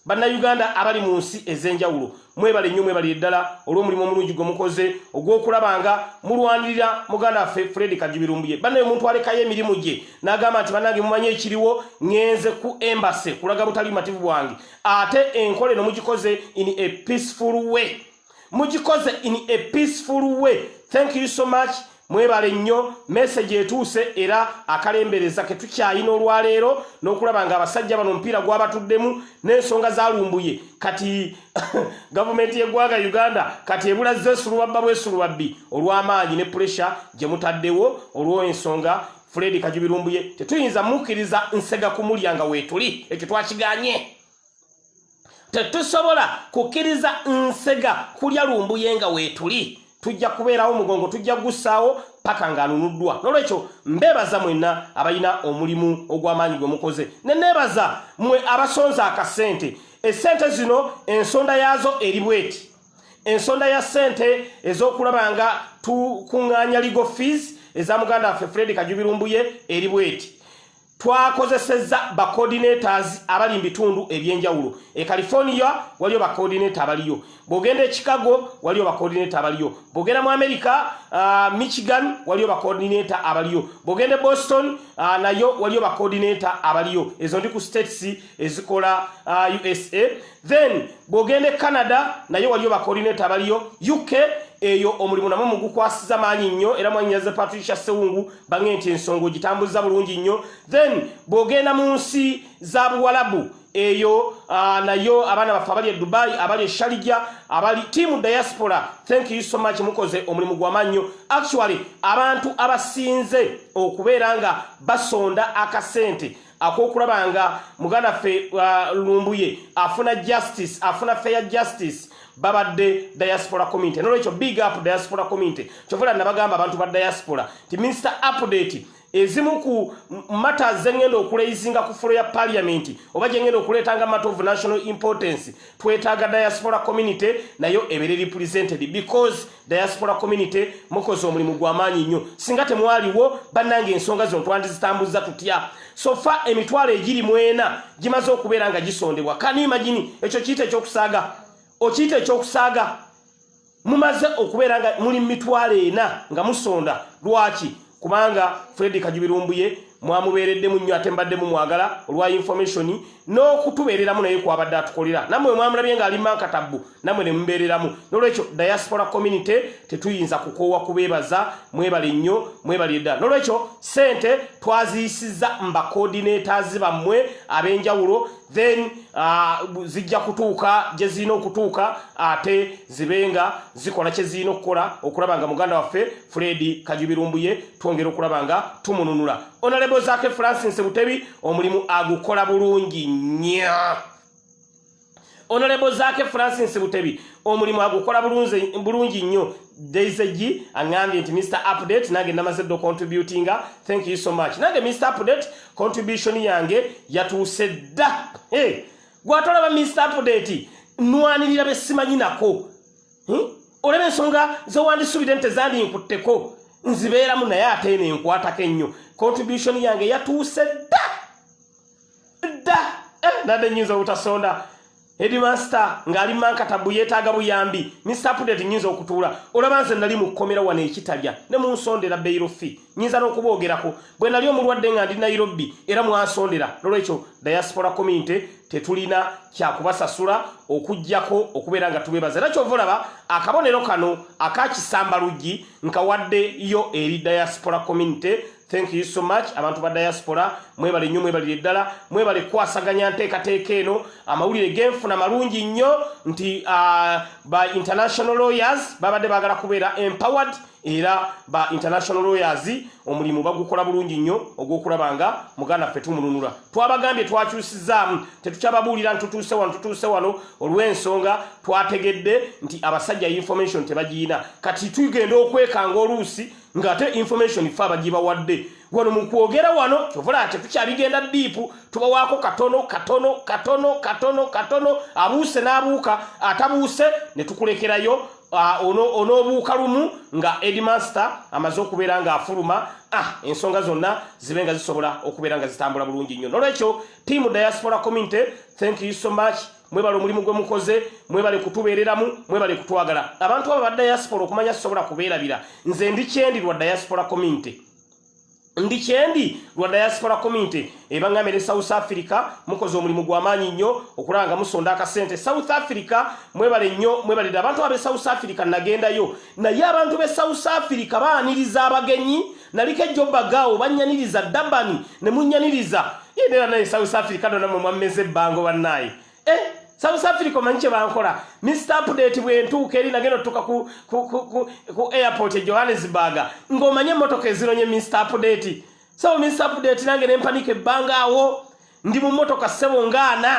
bannayuganda abali mu nsi ez'enjawulo mwebale nnyo mwebalire ddala olw'omulimu omulungi gwe mukoze ogw'okulaba nga mulwanirira muganda waffe fredi kajubirumbuye bannaye omuntu alekayo emirimu gye n'agamba nti bannange mumanyi ekiriwo ŋenze ku embase kulaga butali bumativu bwange ate enkola eno mugikoze in a peaceful way mugikoze in a peaceful way thank you so much mwebale nnyo message etuuse era akalembereza ketukyayina olwaleero n'okulaba nga abasajja bano omupiira gwabatuddemu n'ensonga zalumbuye kati gavumenti y'eggwanga uganda kati ebulazza esulubabba bwesulubabbi olw'amaanyi ne puresha gye mutaddewo olw'ensonga fredi kajubirumbuye tetuyinza mukkiriza nsega kumulya nga weetuli ekyo twakiganye tetusobola kukkiriza nsega kulya lumbuye nga weetuli tujja kubeerawo omugongo tujja kugussaawo paka ng'anunuddwa n'olwekyo mbeebaza mwenna abalina omulimu ogw'amaanyi gwe mukoze ne neebaza mwe abasonza akasente essente zino ensonda yaazo eri bweti ensonda ya ssente ez'okulaba nga tukuŋŋaanya legal fees eza muganda waffe fred kajubirumbuye eri bweti Twakozesezza ba coordinators abali mu bitundu eby'enjawulo. E California waliyo ba coordinator abaliyo. Bw'ogenda e Chicago waliyo ba coordinator abaliyo. Bw'ogenda mu America, uh, Michigan waliyo ba coordinator abaliyo. Bw'ogenda e Boston uh, nayo waliyo ba coordinator abaliyo. Ezo ndi ku states ezikola uh, USA. then bwogenda e canada naye waliyo bakolinate abaliyo uk eyo omulimu namwe mugukwasiza maanyi nnyo era mwanyaze patricia sewungu bange nti ensonga ogitambuza bulungi nnyo then bwogenda mu nsi za buwalabu eyo ah, nayo abaana baffe abali e dubai abali e shalija abali tiamu diaspora thank you so much mukoze omulimu gwamannyo actually abantu abasinze okubeera nga basonda akasente akokulaba nga muganda ffe uh, lumbuye afuna justice afuna fair justice babadde diaspora community nolwekyo big up diaspora community kyovula nabagamba abantu ba diaspora ti minister update ezimu ku mata zengenda okuleizinga ku fulo ya parliament oba jengenda okuletanga matter of national importance twetaaga diaspora community nayo ebere represented because diaspora community mukoze omulimu gwamaanyi nnyo singa temwaliwo bannanga ensonga zino twandizitambuzza tutya sofa emitwalo egiri mwena gimaze okubeera nga gisondebwa kani imagini ekyo kiyita ekyokusaaga okiyita ekyokusaaga mumaze okubeera nga muli mitwalo ena nga musonda lwaki kubanga fredi kajubirumbuye mwamubeereddemu nnyo ate mbaddemu mwagala olwa information n'okutubeereramu naye kwabadde atukolera namwe mwamulabye ng'ali mankatabbu namwe ne mubeereramu n'olwekyo diaspora community tetuyinza kukoowa kubeebaza mwebale nnyo mwebalire ddala n'olwekyo ssente twaziyisizza mba coordinators bammwe ab'enjawulo then uh, zijja kutuuka gye zirina okutuuka ate zibe nga zikola kye zirina okukola okulaba nga muganda waffe fredi kajubirumbuye twongera okulaba nga tumununula onalebo zake francis butebi omulimu agukola bulungi nya onalebo zake francis butebi omulimu agukola bulungi nnyo Daisy angambye nti Mr Update nange namaze ddo contributinga thank you so much nange Mr Update contribution yange yatuuse dda hey, gwatolaba Mr Update nwanirira be simanyi nako hmm? olaba ensonga zewandisubide nti zandi nkutteko nzibeeramu naye ate eno enkwatako ennyo contribution yange yatuuse dda dda eh, nade nyinza obutasonda headmaster ngali mankata buyetaga buyambi ni support nyinza okutuula olaba nze nali mukomera wana ekitalya ne munsondera bail fee nyinza nokubogerako bwe nali omulwadde nga ndi Nairobi era mwasondera nolwekyo diaspora community tetulina kyakubasasula okujjako okubeera nga tubebaza era kyova olaba akabonero kano akakisamba luggi nkawadde yo eri diaspora community Thank you so much abantu ba diaspora mwebale nnyo mwebalire ddala mwebale kukwasaganya nteekateeka eno amawulire genfuna malungi nnyo nti uh, ba international lawyers babadde bagala kubeera empowered era ba international lawyers omulimu bagukola bulungi nnyo ogw'okulaba nga muganda ffe tumulunula twabagambye twakyusizaamu tetukyababuulira ntutuuse wano tutuuse wano olw'ensonga twategedde nti abasajja information tebagiyina kati tugenda okwekanga oluusi nga ate information ffe abagibawadde wano mu kwogera wano kyovula ati tukyabigenda diipu tubawaako katono katono katono katono katono abuuse n'abuuka atabuuse ne tukulekerayo ah, onoobuuka lumu nga edmaster amaze okubeera ng'afuluma ah, ensonga zonna zibe nga zisobola okubeera nga zitambula bulungi nnyo nolwekyo tiamu diaspora community thank you so much mwebale omulimu gwe mukoze mwebale kutubeereramu mwebale kutwagala abantu abo ba diaspora okumanya sisobola kubeerabira nze ndi kyendi lwa diaspora community ndi kyendi lwa diaspora community ebangambye ne south africa mukoze omulimu gwamaanyi nnyo okulaba nga musonda akasente south africa mwebale nnyo mwebalire abantu abe south africa nagendayo naye abantu be south africa baaniriza abagenyi Naliko ejjo bagaawo bannyaniriza Dabani ne munnyaniriza yenda era naye South Africa dona mwe mwammeza ebbango bannaaye eh, South Africa omanyi kye bankola Mr Update bwentuuka eri nagenda otutuka ku, ku, ku, ku, ku airport e Johannesburg ng'omanye emmotoka ezironye Mr Update sebo Mr Update nange ne mpanika ebbanga awo ndi mu mmotoka ssebo ngaana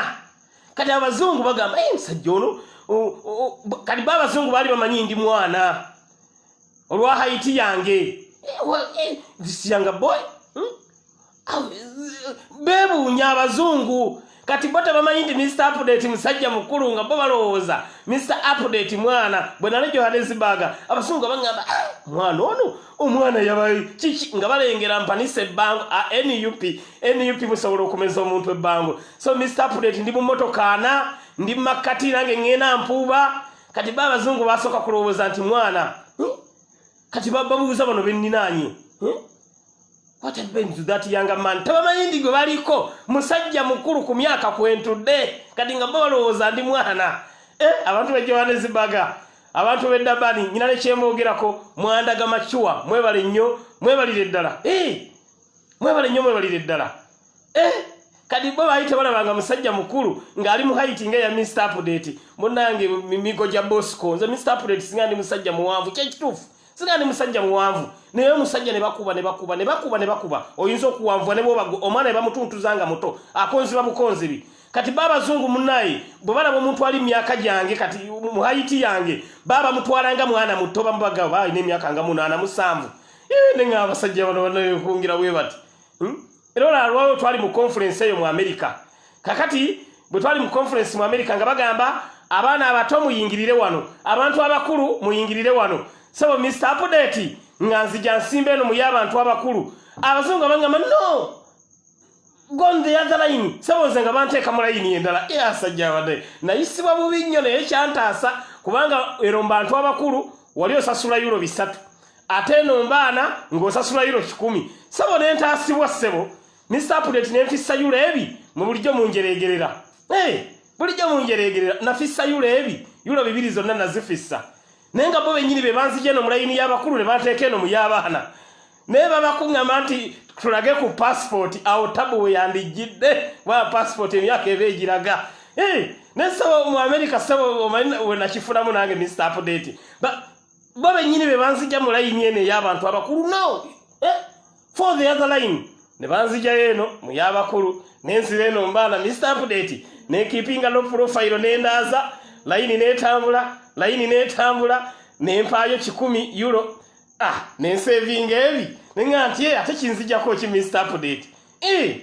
kati abazungu bagamba musajja ono kati ba abazungu baali bamanyi ndi mwana olwa haiti yange siyanga eh, eh, boy hmm? bebuunya abazungu kati bo tebamanyi nti mr update musajja mukulu nga bo balowooza mr update mwana bwe nali johannesburg abasungu abagamba ah, mwana ono omwana yabayi kiki nga balengera mpanisa ebbango a ah, nup nup musobola okumeza omuntu ebbango so mr update ndi mumotokaana ndi mumakkati nange ŋŋenda mpuuba kati ba abazungu basooka kulowooza nti mwana eh? kati babuuza bano benninaanye eh? what happens to that younger man tabamayindi gwe baliko musajja mukulu ku myaka kwentudde kati nga bo balowooza ndi mwana eh, abantu be johannesburga abantu be dabani nyina nekyembogerako mwandaga macuwa mwebale nnyo mwebalire ddala eh, mwebale nnyo mwebalire ddala eh, kati bo baali tebalabanga musajja mukulu ng'ali mu haiti nga eya mista apudate munange migo gya bosco nze mista apudate singa ndi musajja muwanvu kyekituufu singa ndi musajja muwanvu naye omusajja ne bakuba ne bakuba ne bakuba ne bakuba oyinza okuwanvua ne bwoba omwana ne bamutuntuza nga muto akonziba bukonzibi kati babazungu munaye bwe balaba omuntu ali myaka gyange kati mu haiti yange baba mutwala nga mwana muto bamubagaba alina emyaka nga munaana musanvu ne nga abasajja bano banaye okungira bwe bati hmm? Era olwalwawo twali mu conference eyo mu America. Kakati bwe twali mu conference mu America nga bagamba abaana abato muyingirire wano, abantu abakulu muyingirire wano. Sebo Mr. Update nga nzija nsimba eno muye abantu abakulu. Abazungu abangamba no. Gone the other line. Sebo nze nga banteeka mu line endala. Eh asajja abade. Nayisibwa bubi nnyo naye kyantaasa kubanga ero mbantu abakulu wali osasula euro bisatu ate eno mbaana ng'osasula euro kikumi sebo ne ntaasibwa ssebo mr pudeti ne nfissa euro ebi mu bulijjo munjereegerera hey, bulijjo munjereegerera nafissa euro ebi euro bibiri zonna nazifissa naye nga bo bennyini be banzija eno mu layini y'abakulu ne banteeka eno mu y'abaana naye babakuŋŋama nti tulage ku pasipooti awo tabu we yandijjidde waba pasipooti emyaka eba egiraga eh, naye saba mu amerika saba omanyi wenakifulamu nange mista apudeti bo bennyini be banzija mu layini eno ey'abantu abakulu no eh, for the other line ne banzijayo eno mu y'abakulu nenzira eno mbaana mista apudeti nekipinga no purofayiro nendaaza layini netambula layini netambula nempaayo kikumi euro ah nensevinga ebi nenga nti eh, ate kinzijako ki mr update eh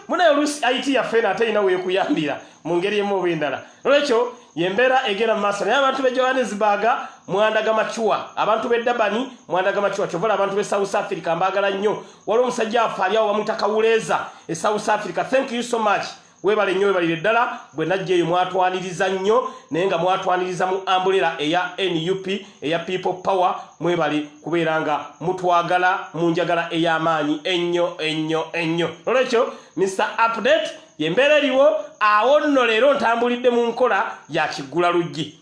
munaye olusi it yaffe eno ate ina wekuyambira mu ngeri emu oba endala nolwekyo yembeera egera maaso naye abantu be johannesburg mwandaga macuwa abantu be dabani mwandaga macuwa kyovola abantu be south africa mbagala nnyo waliwo omusajja affe aliawo bamwita kawuleeza e south africa thank you so much Webale nnyo webalire ddala bwe najja eyo mwatwaniriza nnyo naye nga mwatwaniriza mu ambulera eya nup eya people power mwebale kubeera nga mutwagala mu njagala ey'amaanyi ennyo ennyo ennyo nolwekyo mr update yembeera eriwo awo nno leero ntambulidde mu nkola ya kiggula luggi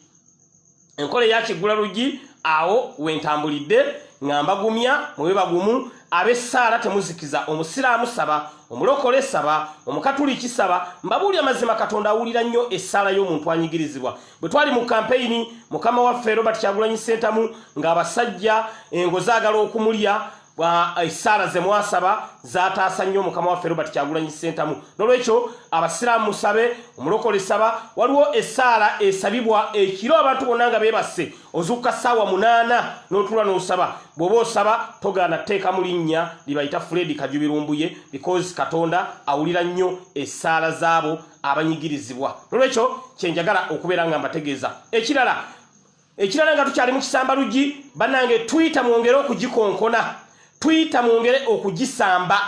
enkola eyakiggula luggi awo wentambulidde nga mbagumya mube bagumu abessaala temuzikiza omusiraamu saba omulokole saba omukatuliki saba mbabuuli amazima katonda awulira nnyo essaala y'omuntu anyigirizibwa bwe twali mu kampeyini mukama waffe robert kyagulanyi sentamu ng'abasajja engo zaagala okumulya esaala eh, zemwasaba zataasa nnyo mukama waffe robert kyagulanyi sentamu nolwekyo abasiraamu musabe omulokole saba waliwo esaala esabibwa ekiro abantu bonna nga bebasse ozukka saawa munaana notula nosaba bwoba osaba togaana teeka mu linnya libayita fredi kajubirumbuye because katonda awulira nnyo esaala zaabo abanyigirizibwa nolwekyo kyenjagala okubeera nga mbategeeza ekirala Ekirala nga tukyali mu kisamba luggi banange Twitter mwongere okugikonkona. Twitter mwongere okugisamba.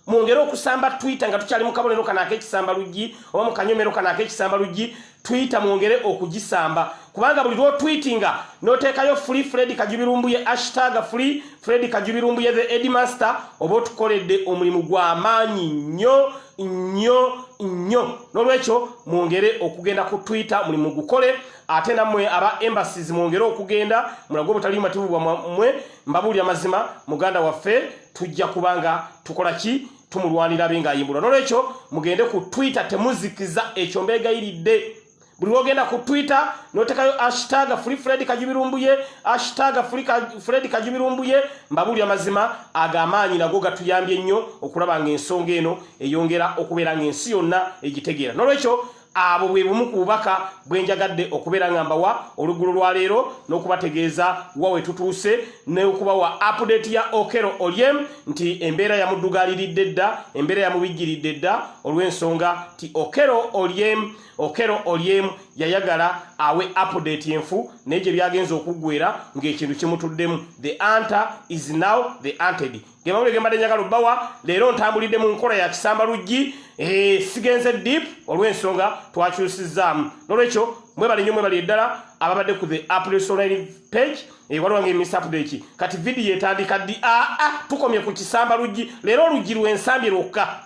Mwongere okusamba Twitter nga tukyali mu kabonero kana ak'ekisamba luggi oba mu kanyomero kana ak'ekisamba luggi Twitter mwongere okugisamba. Kubanga buli lwo tweetinga n'oteekayo free Fred Kajubirumbu ye hashtag free Fred Kajubirumbu ye the headmaster oba otukoledde omulimu gwa maanyi nnyo nnyo nnyo. N'olwekyo mwongere okugenda ku Twitter mulimu gukole. ate namwe aba embassies mwongere okugenda mulago butali mativu bwa mwe mbabuli amazima muganda waffe tujja kubanga tukola ki tumulwanira binga yimbula nolecho mugende ku twitter temuzikiza ekyo mbega ilide buli wogenda ku twitter notekayo hashtag free fred kajibirumbuye hashtag free fred kajibirumbuye mbabuli amazima agamaanyi nago gatuyambye nnyo okulaba nga ensonga eno eyongera okubeera nga ensi yonna egitegeera nolecho Abo bwe bumu ku bubaka bwe njagadde okubeera nga mbawa oluggulo lwa leero n'okubategeeza wa we tutuuse n'okubawa apudeeti ya Okello Oryem nti embeera yamuddugaaliridde dda, embeera yamubijjiridde dda olw'ensonga nti Okello Oryem Okello Oryem yayagala awe apudeeti enfu naye gye byagenze okuggweera ng'ekintu kimutuddemu. The anta is now the anted. ge mawulire ge mbadde njagala obbawa leero ntambulidde mu nkola ya kisamba luggi eh, sigenze deep olw'ensonga twakyusizzaamu n'olwekyo mwebale nnyo mwebale eddala ababadde ku the apsonline page eh, waliwo nga emisapudeki kati vidiyo etandika ddi aa ah, ah, tukomye ku kisamba luggi leero oluggi lw'ensambi lwokka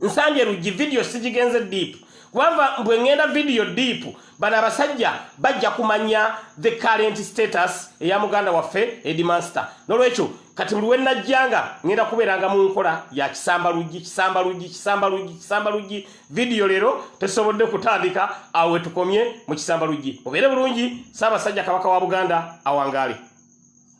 nsambye luggi vidiyo sigigenze deep kubanga bwe ŋŋenda vidiyo deep bano abasajja bajja kumanya the current status eya muganda waffe edimaster n'olwekyo kati buli wenajja nga ŋŋenda kubeeranga mu nkola ya kisamba luggi kisamba luggi kisamba luggi kisamba luggi vidiyo leero tesobodde kutandika awo wetukomye mu kisamba luggi obeere bulungi saabasajja kabaka wa buganda awangaale